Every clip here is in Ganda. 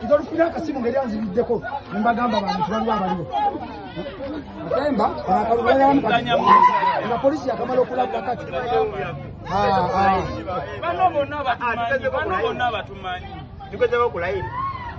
nzolufuna akasimu ngeri anzibiddeko nembagamba bantu baliwo abaliwo atemba nga polisi yakamala okulabba kati bano bonna batumanyi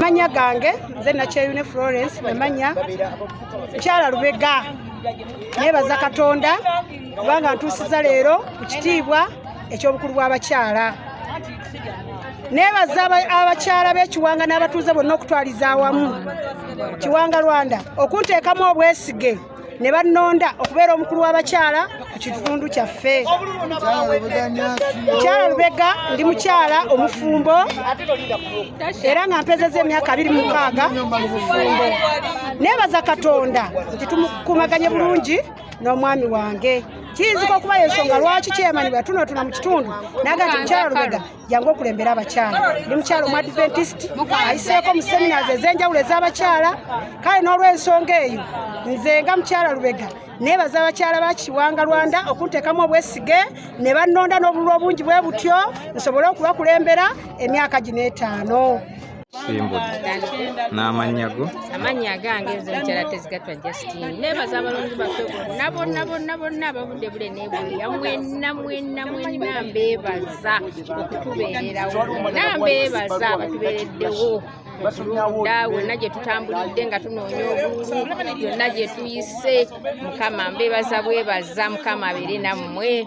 manya gange nze nakyeyune florence namanya mukyala lubega nebaza katonda kubanga ntuusiza leero ku kitiibwa ekyobukulu bw'abakyala nebaza abakyala b'ekiwanga n'abatuuze bonna okutwaliza awamu kiwanga rwanda okunteekamu obwesige ne bannonda okubeera omukulu w'abakyala ku kitundu kyaffe mukyala lubega ndi mukyala omufumbo era nga mpezeza emyaka abiri mukaaga mubufumbo nebaza katonda nti tumukumaganye bulungi n'omwami wange kiyinzika okuba yensonga lwaki kyemanibwa tunotuna mu kitundu naga nti mukyala lubega jangu okulembera abakyala ndi mukyala omu adventist ayiseeko mu seminars ez'enjawulo ez'abakyala kale n'olw'ensonga eyo nze nga mukyala lubega nebaza abakyala ba kiwanga rwanda okunteekamu obwesige ne bannonda n'obululu obungi bwe butyo nsobole okubakulembera emyaka gino etaano simbudde n'amannya go amannya agange ezo nkyala tezigatwa justine nebaza abalonzi baffe bonna bonna bonna bonna abavudde bule nebweya mwenna mwenna mwenna mbeebaza okutubeererawo mwenna mbeebaza abatubeereddewo okulunda wonna gye tutambulidde nga tunoonya obululu yonna gye tuyise mukama mbeebaza bwebaza mukama abeere nammwe